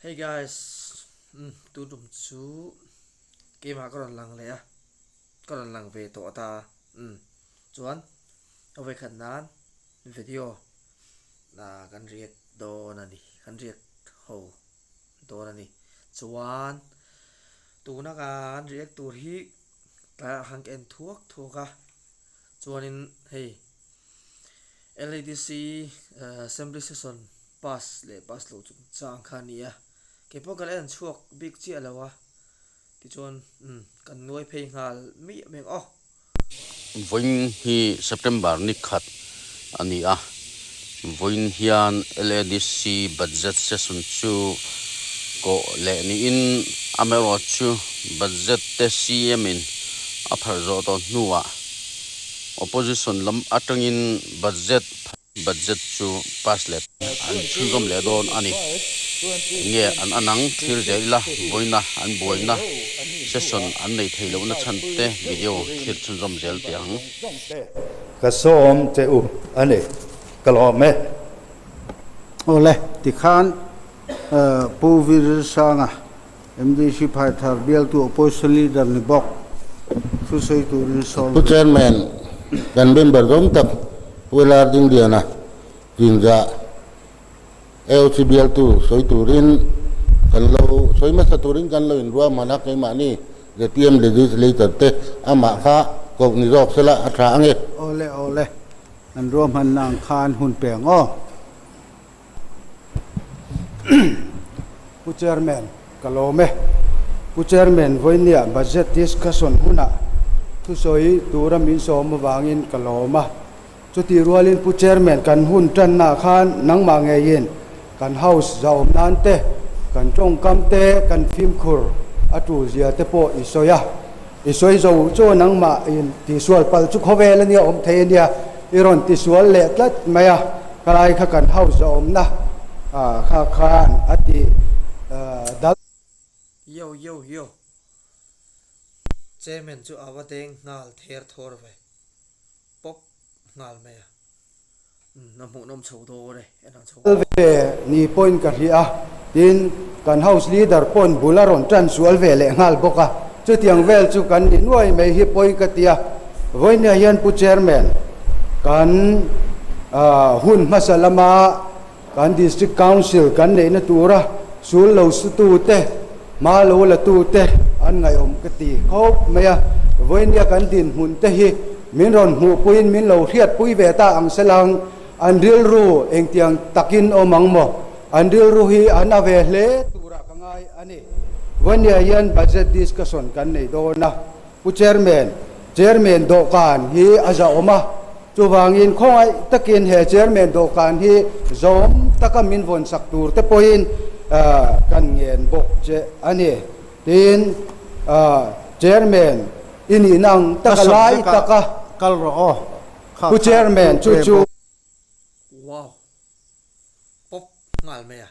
Hey guys, um, tu tum chu ke ma ka ron lang le a. Ka ron lang ve to ata. Um. Chuan o ve khat nan video na kan riak do na ni. Kan riak ho do na ni. Chuan tu na ka an riak tur hi ta hang en thuak thuak a. Chuan in hey LADC Assembly Session pass leh pass loh chu chang kha ni a kei pawh kan en chhuak bik chiah lo a tichuan um kan nuai phei nghal mai em ang aw. Vawiin hi September ni khat a ni a, Vawiin hian LADC budget session chu kawh leh niin amaherawhchu chu budget te CM in a pharh zawh tawh hnuah opposition lam atangin budget budget chu pass let an chhunzawm leh dawn a ni. Enge an an ang thlir theih ila vawiina an buaina session an nei thei lohna chhante video thlir chhunzawm zel tih ang. Zawngte ka sawm che u a ni, ka lawm e. Awle, tikhan Pu Virirshanga, mdc phai thar bialtu opposition leader ni bawk thu sawi turin sawn Pu Chairman, kan member zawng tak Pu Lardindiana, Rinzah, AOC bialtu sawi turin kan lo sawi hmasa turin kan lo inruaham han a, keimahni ZPM legislator te amah kha koh ni zawk sela a tha ange. Aw le aw le, kan ruahmanna ang khan hun pe ang aw. Pu Chairman, ka lawm e. Pu Chairman vawinia budget discussion hunah thusawi tura min sawm avangin ka lawm a. Chuti rualin Pu Chairman kan hun tanna khan nangmah ngeiin kan House zahawm nan te, kan tawngkam te, kan fimkhur a tul zia te pawh i sawi a, i sawi zo chaw nangmah in tihsual palh chu khawvel a nia awm thei a nia, i rawn tisual leh tlat mai a, khalaia kha kan House zahawmna kha khan a ti dal. Yo yo yo. Chairman chu ava deng nghal ther thawr ve. Pawp nghal mai a. Umm, a hmuhnawm chho dawn e. A inang chho dawn. Kal ve ni pawhin ka hria a, tin kan House Leader pawhin bul a rawn tan sual ve leh nghal bawk a. Chutiang vel chu kan ni nuai mai hi pawi ka ti a. Vawinia hian Pu Chairman, kan hun hmasa lama. Kan District Council kan neihna tura sul lo sutu te, hma lo latu te an ngaihawm ka ti khawp mai a. Vawinia kan dinhmun te hi min rawn hmuhpuiin min lo hriatpui ve ta ang selang, an rilru engtiang takin awm ang maw? An rilru hi an a ve hle turah ka ngai a ni. Vawinia hian budget discussion kan nei dawn a, Pu Chairman, Chairman dawhkan hi a zahawm a, chuvangin khawngaih takin he Chairman dawhkan hi zawm taka min vawn sak turte pawhin kan ngen bawk che a ni. Tiin Chairman i nihna ang taka lai taka kal rawh aw, Pu Chairman chu chu. Wow! Pawp nghal mai a.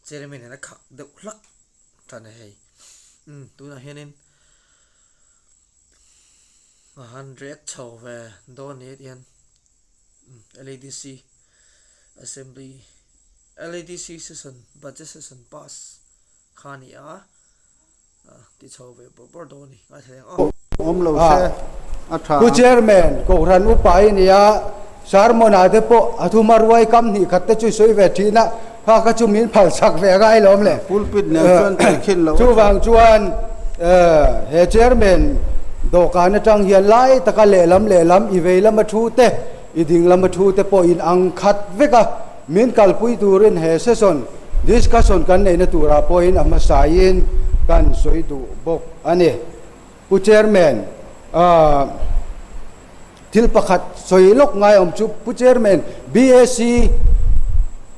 Chairman in a khak deuh hlak ta ni hei. Um, tunah hianin a han riat chho ve dawn ni ati hian um, LADC Assembly LADC session budget session pass kha ni a. Pu Chairman Kohhran upa i nia, sermon ah te pawh a thuma ruai kam hnih khat te chu i sawi ve thin a, kha kha chu min phal chak ve a ngai lawm le. Pulpit nen chuan tui khin lo a chang. Chuvang chuan he Chairman dawhkan atang hian lai taka lehlam lehlam i vei lama thu te i ding lama thu te pawh in ang khat vek a. Min kalpui turin he session discussion kan neihna turah pawhin a hmasaiin kan sawi duh bawk a ni. Pu Chairman, thil pakhat sawi lawk ngaiawm chu, Pu Chairman, BAC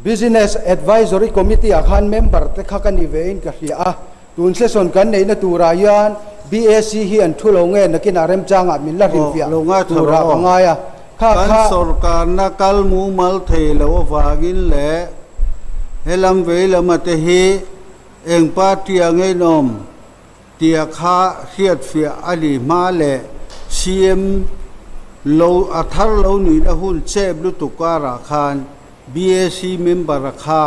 Business Advisory Committee-ah khan member-te kha ka ni vein ka hria a, Tun session kan neihna turah hian BAC hi an thu lo nge nakinah remchangah min la hrilhfiah turah ka ngai a. Kha kha. Kan sorkarna kal mumal thei loh avangin leh he lam vei lama te hi eng party a ngeinawm tia kha hriatfiah a ni hma le CM lo a thar lo nuihna hun chep lutuk karah khan BAC member a kha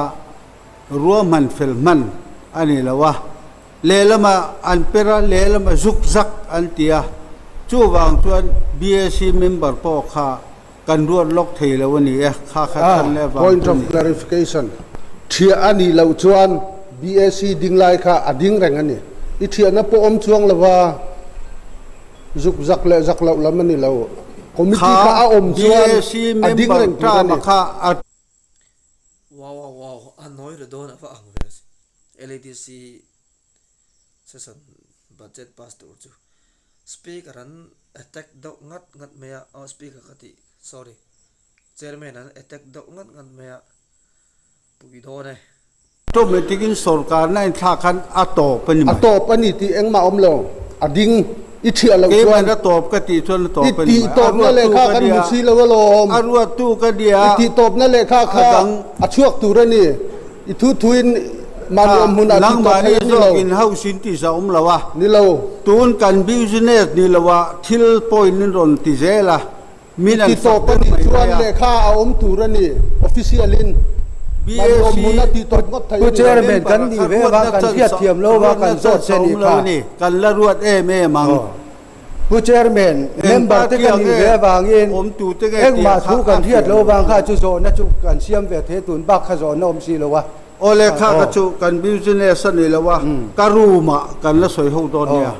Ruahman fel hman a ni lo a, lehlama an per a, lehlama zuk zak an ti a, chuvang chuan BAC member pawh kha kan ruat lawk thei lo a ni e, kha kha tan leh vang Point chu of ni. clarification, Thliah a nih loh chuan BAC ding lai kha a ding reng a ni. I thliahna pawh awm chuang lo va, zuk zak leh zak loh lam a ni lo. Committee kha a awm chuan a ding reng tur a ni. Wow wow wow a nawi reh dawn ava ang ve si LADC session budget pass tur chu speaker an attack deuh ngat ngat mai a aw speaker ka tih sorry chairman an attack deuh ngat ngat mai a puidawn e. Tawp mai tingin sorkarna in thlak khan a tawp a ni mai. A tawp a ni tih engmah awm lo. A ding. I chhiah loh chuan. Keiman a tawp ka tih chuan a tawp a ni mai. I tih tawpna lehkha kan hmu si lo alawm. A ruattu ka nia. I tih tawpna lehkha kha a chhuak tur a ni. I thu thuin mah ni awm hmun ah tih tawp theih a ni lo. Nangmah ni zawk in ho sin tih za awm lo a. Ni lo. Tun kan business ni lohah thil point in rawn ti zel a. Min an sak ber mai mai a. Lehkha a awm tur a ni, official in. BAC Khu Chairman kan nih ve va, kan hriat thiam lo va, kan zawt che ni kha. Kan la ruat em em ang. Khu Chairman, member te ka nih ve avangin engmah thu kan hriat lo vang kha chu zawhna chu kan siam ve thei tun bak kha zawhna awm si lo a. Aw lehkha ka chuh, kan business a ni lo a, ka room ah kan la sawi ho dawn nia.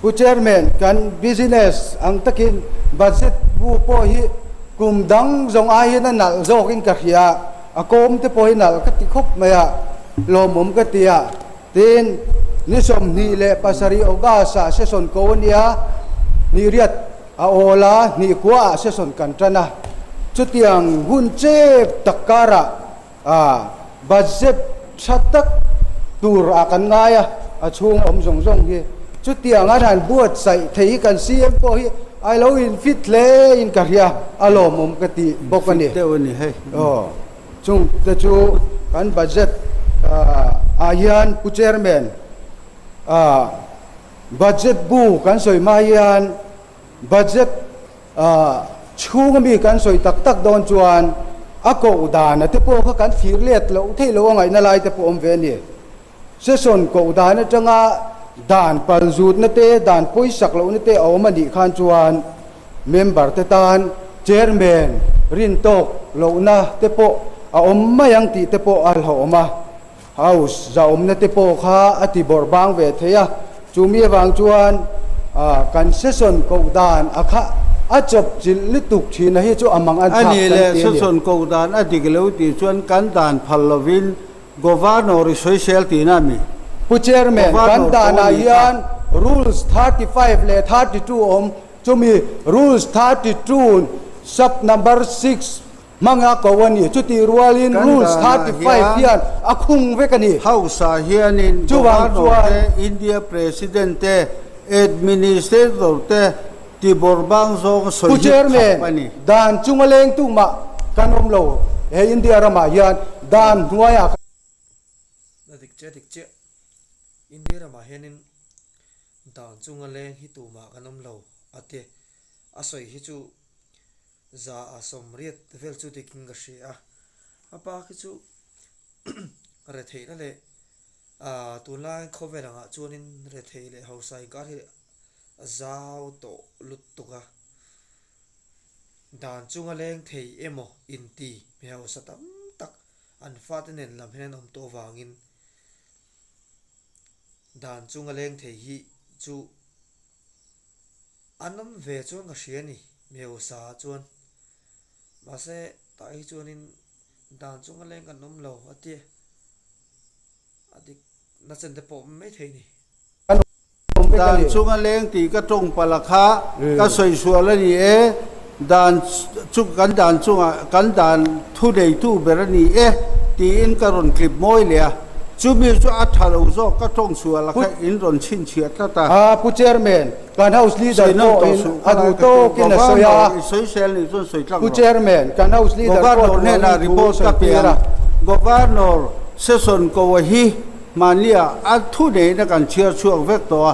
Pu Chairman, kan business ang takin budget bu pawh hi kum dang zawng aiin a nalh zawkin ka hria, a kawmte pawh hi nalh ka ti khawp mai a, lawmawm ka ti a, tiin ni sawmhnih leh pasarih August ah session ko a nia, hnihriat a awl a, hnihkhua ah session kan tan a, chutiang hun chep tak karah, Aaa, budget tha tak tur ah kan ngai a, a chhung awm zawng zawng hi. Chutiang an han buatsaih thei kan si em pawh hi I lo infit hle in ka hria, a lawmawm ka ti bawk a ni. Infit deuh a ni hei. Aw, chung te chu kan budget ah hian Pu Chairman, aaa, budget bu kan sawi mai hian, Budget chhunga mi kan sawi tak tak dawn chuan a koh dana te pawh kha kan fir let loh theih loh a ngaihna lai te pawh awm ve a ni. Session koh dan atanga dan pal zutna te, dan pawi sak lohna te a awm a nih khan chuan member te tan chairman rin tawk lohna te pawh a awm mai ang tih te pawh a hlawh awm a. House zahawmna te pawh kha a ti bawrh bang ve thei a, chumi avang chuan concession koh dan a khah a chawp chilh lutuk thin a hi chu a mang a thlak kan ti a ni. Concession koh dan a dik lo tih chuan kan dan phal lovin Governor i sawi sel ti na mi? Pu Chairman, kan dan ah hian Rules thirty five leh thirty two a awm, chumi Rules thirty two sub number six, Hmanga ko a ni. Chutih rualin Rules thirty five hian a khung vek a ni. Hausa hianin Governor te, India President te, Administrator te ti bawr bang zawng sawi hi khap a ni. Pu Chairman, dan chunga leng tu mah kan awm lo. He India ramah hian dan hnuaiah kan. Hna dik chiah dik chiah. India ramah hianin dan chunga leng hi tumah kan awm lo a ti. A sawi hi chu. za a sawm riat vel chu tikin ka hria a, a pa khi chu retheihna leh ah tun laiin khawvel angah chuanin retheih leh hausa inkar hi a zau tawh lutuk a, dan chunga leng thei emaw inti mi hausa tam tak an fate nen lam hian an awm tawh avangin dan chunga leng thei hi chu An awm ve chuan ka hria ni, mi usa chuan. Mahse, tah hi chuanin dan chu ngaleng kan awm lo a ti e. A dik na chen te pawh mai thei ni. Kan awm dan chu ngaleng tih ka tawngpalh a kha ka sawi sual a ni e. Dan chu kan dan chungah kan dan thu neitu ber a ni e tiin ka rawn clip mawi leh a, chumi chu a tha lo zawk ka tawng chhuah la kha in rawn chhin chhiah tlat a. A pu chairman, kan house leader pawhin a duh tawkin a sawi a, pu chairman, kan house leader pawh a duh angin thu a sawi tir a. Governor Session kaw hi hmanliah a thu neina kan chhiar chhuak vek tawh a.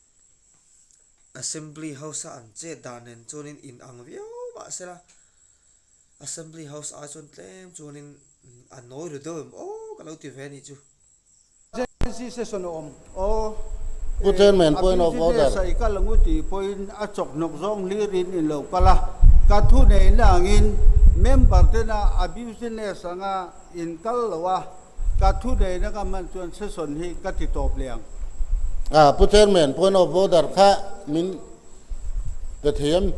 Assembly House a an chet dan nen chuanin in ang viau mah se la Assembly House a chuan tlem chuanin a nawi ru deuh em aw ka lo ti ve a nih chu. Emergency session a awm aw e. Chairman point of order. Abuse hi ve sa i kal ang u tih pawhin a chawk hnawk zawng hlirin in lo kal a, ka thu neihna angin member tena abusiness anga in kal lo a. Ka thu nei na ka hman chuan session hi ka ti tawp leh ang. Ah, Pu Chairman, Point of order kha min pe thei em?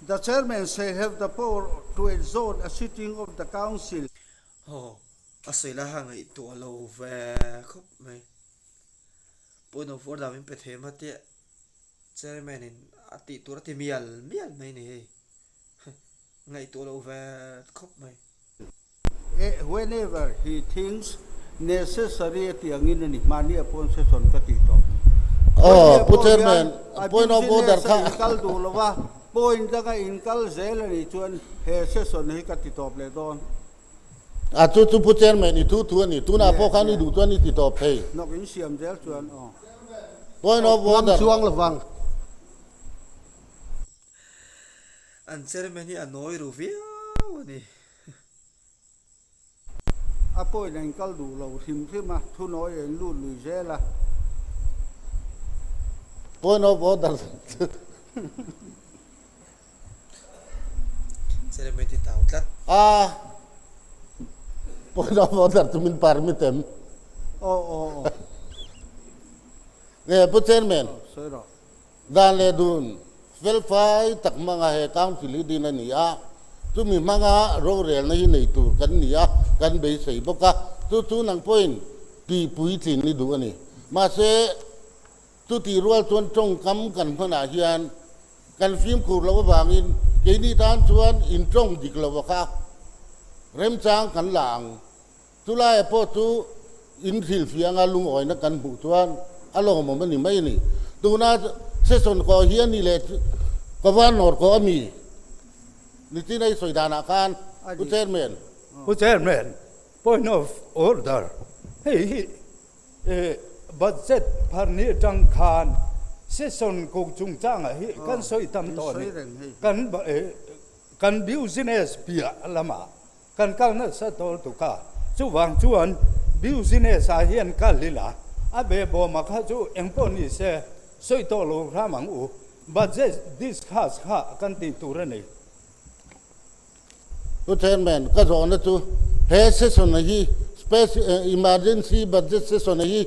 The Chairman shall have the power to adjourn a sitting of the Council. Haw, a sawi lai ha ngaihtuah lo ve khawp mai. Point of order min pe thei em atiah Chairman in a tih tur a ti mial mial mai a ni hei. Ngaihtuah lo ve khawp mai. Eh, whenever he thinks necessary a ti angin a ni, mahni a pawn sesawn ka tih tawh. Aww, Pu Chairman, point of order kha. Business-a inkal duh lo va, point danga inkal zel a nih chuan he sesawn hi ka ti tawp leh dawn. Ah, chu chu Pu Chairman-i thu thu a ni, tunah pawh khan i duh chuan i ti tawp thei. Hnawk in siam zel chuan aww. Point of order. Hmang chuang lovang. An chairman hi a nawi ru viau a ni. A point a in kal duh lo hrim hrim a, thunawi a in lut lui zel a. Point of order. Chairman hi tau tlat. A point of order chu min permit em? Aw aw aw. Nge pu chairman. Sawi rawh. Dan leh dun felfai tak hmanga he council hi din a ni a, chumi hmanga rorelna hi nei tur kan ni a, kan beisei bawk a, chu chu nang pawhin tihpui tlin ni duh a ni. Mahse, chutih rual chuan tawngkam kan hmanah hian kan fimkhur loh avangin keini tan chuan in tawng dik lova kha remchang kan la ang. Chu laia pawh chu inhlil fianga lungawina kan hmuh chuan a lawmawm a ni mai ni. Tuna session kaw hi a ni leh Kawvan nawr kaw a mi ni chin a i sawi danah khan Pu Chairman. Pu Chairman, point of order. Hei hi budget pharni atang khan session kaw chungchangah hi kan sawi tam tawh a ni. Kan business piah lamah Kan kal nasa dawl tuk a, chuvang chuan business ah hian kal ila a be bawma kha chu engpawh ni se sawi tawh lo hram ang u, budget discuss kha kan tih tur a ni. Pu Chairman, ka zawhna chu he session a hi, Emergency Budget Session a hi,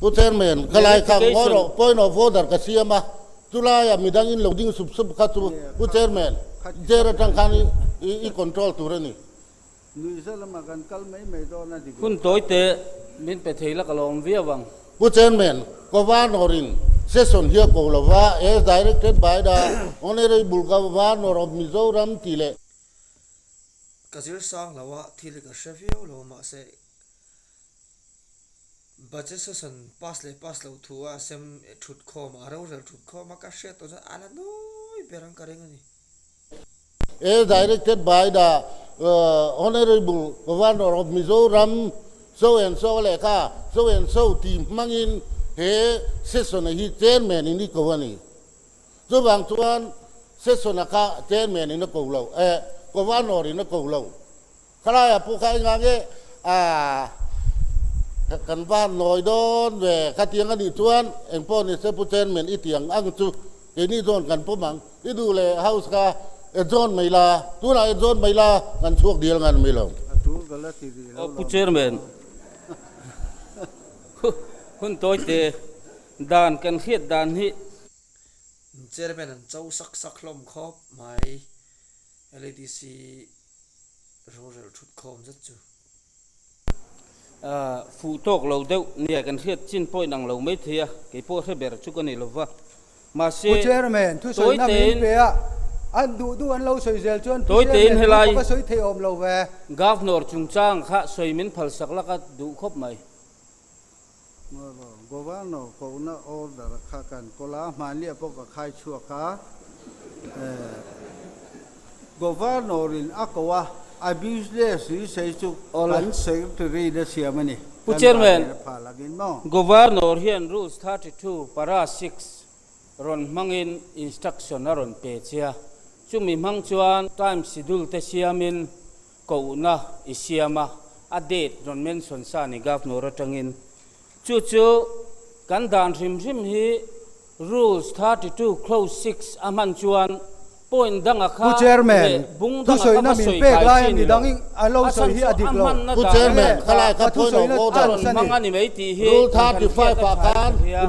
Pu Chairman, ka lai khang ngaw rawh, point of order ka siam a, chu laia midang in lo ding sup sup kha chu Pu Chairman, chair atang khan i control tur a ni. Nuihza lama kan kal mai mai dawn a ni vang. Hun tawi teh, min pe thei lak alawm viau ang. Pu Chairman, ka Varnawr in session hi a ko lo va, as directed by the Honourable Ka Varnawr of Mizoram tih leh. Ka zir sang lo a, thil hi ka hre viau lo, mahse. Budget session pass leh pass loh thu a sem thut khawm a, a rorel thut khawm a, ka hriat tawh chuan a la nawi ber ang ka reng a ni. As directed by the Honourable Governor of Mizoram, so and so a lehkha so and so tih hmangin he session a hi Chairman in i ko a ni. Chuvang chuan session a kha Chairman in a ko lo, eh, Governor in a ko lo. Khalaia pu kha enga nge ahh kan va nawi dawn ve khatiang a nih chuan eng pawh ni se pu chairman i tiang ang chu keini zawn kan pawm ang i duh leh house kha e zawn mai la tunah e zawn mai la kan chhuak dil ngan mai lo. Aw pu chairman hun tawi te dan kan hriat dan hi. Chairman an cho sak sak hlawm khawp mai LADC. rorelh thut khawm zet chu. Ahh, fuh tawk lo deuh nia, kan hriat chin pawhin ang lo maithei a, kei pawh hre ber chu ka nei lo va. Mahse, Pu Chairman, thu sawi na min pe a, an duh duh an lo sawi zel chuan Pu Chairman thu ka va sawi thei awm lo ve. Governor chungchang kha sawi min phalsak laka duh khawp mai. Governor kohna order kha kan kawl a, hmahnia pawh ka khai chhuak a, Governor in a koh a, a business hrisei chu kan Secretary na siam a ni, kan zahlen a phah lang in maw? Governor hian Rules thirty two, Para six rawn hmang in instruction a rawn pe che a, chumi hmang chuan time schedule te siam in Kohna i siam a, a date rawn mention sa a ni governor atangin. Chu chu kan dan hrim hrim hi Rules thirty two Clause six a hman chuan point danga kha leh bung danga kha va sawi kai chin lo. A chhan chu a hmanna dan leh dan a thu sawi a rawn hmang a ni mai tih hi kan thlen thliat a chhai thla hliam.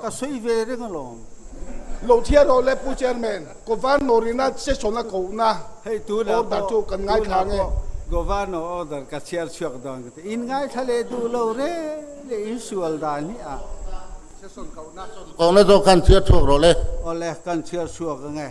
Ka sawi ve reng alawm. Hlawhthiar rawh le Pu Chairman, Governor in a session a kohna order chu kan ngaithla ang e. Governor order ka chhiar chhuak dawn ka ti. In ngaithla leh duh lo rel e, in sual dan hi a session kohna. Session kohna zawk khan chhiar chhuak rawh le. Awle, kan chhiar chhuak ang e.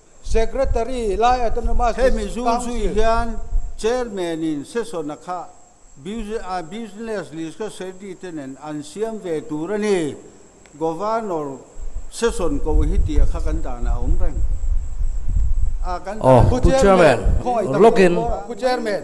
Secretary, Lai Autonomous District Council. Hemi zung zui hian Chairman in session-a kha Business Lista Secretary te nen an siam ve tur a ni. Governor session koh hi tih a kha kan dan a awm reng. Pu Chairman, log in. Pu Chairman.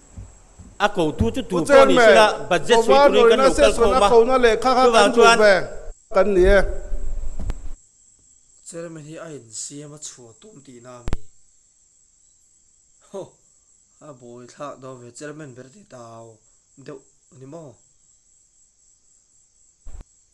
A ko thu chu tur pawh ni sila budget sawi turin kan lo kal khawm a, chuvang chuan. Kan ni e. Chairman hi a insiam a chhuah tum tihna a mi. Ho! A bawi thlak dawn ve, Chairman ber ti tau deuh ni maw?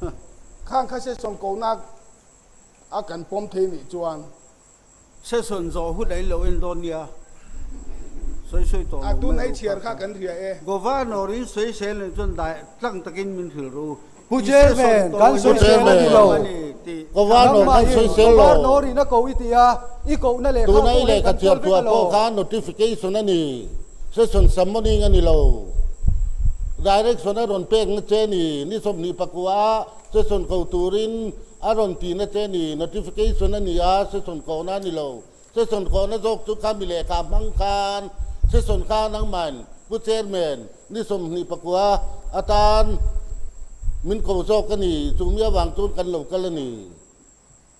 Huh. Khang kha session kohnak a kan pawm thei nih chuan session zawh hut ain lo en dawn nia sawi sawi tawh lo mai ru kha kha Governor in sawi sel nen chuan dai tlang takin min hrilh ru ti session tawh lo hi sawi sel a ni lo ani tih Governor khan sawi sel lo Governor in a koh i ti a i kohna leh kha a pawh hi kan tual vek a lo. Session sam morning a ni lo. Direction a rawn pek na che ni, ni sawmhnih pakua a session ko turin a rawn ti na che ni, notification a ni a, session kawhna a ni lo. Session kawhna zawk chu kha mi lehkha hmang khan session kha nangmain Pu Chairman ni sawmhnih pakua a tan min ko zawk a ni, chumi avang chuan kan lo kal a ni.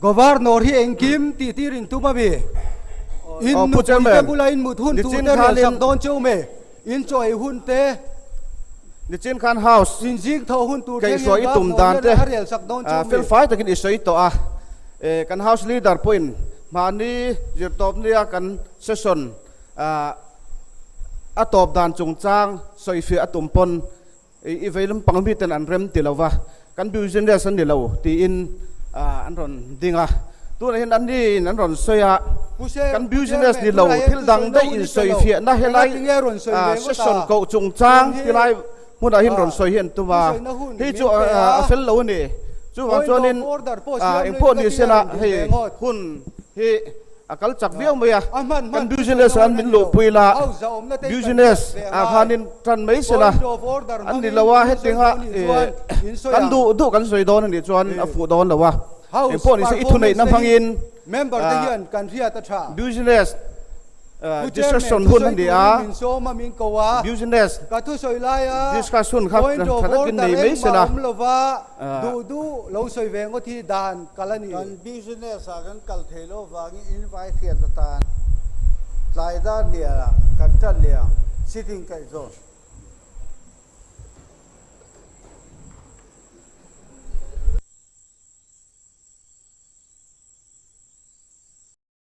Governor hi engkim tih tir in tum ami? In nupui te bula in mut hun tur te rial sak dawn che um e, in chaw ei hun te, Nichin khan house in zing tho hun tur te nge governor hian a rial sak dawn che um e? Felfai takin i sawi tawh a, kan house leader pawhin mahni zirtawp nia kan session a tawp dan chungchang sawi fiah a tum pawn I vei lampang mi ten an rem ti lo va, kan business a ni lo tiin an rawn ding a. Tunah hian an ni in an rawn sawi a, kan business ni lo thil dang daih in sawi fiah na helai session koh chung chang ti lai hmunah hin rawn sawi hi an tum a. Hei chu a fel lo a ni. Chuvang chuan in engpawh ni se lah hei hun hi. A kal chak viau mai a, kan business ah an min luhpui ila, business ah khanin tan mai se la, an ni lo a, heting ah kan duh duh kan sawi dawn anih chuan a fuh dawn lo a, eng pawh nise i thuneihna hmangin business discussion hun a ni a, business discussion kha tha takin nei mai se la. Duh duh lo sawi ve ngawt hi dan kal a ni. Kan business ah kan kal thei lo vangin invite hriat atan tlai dar hnial ah kan tat leh ang, sitting kaih zawn.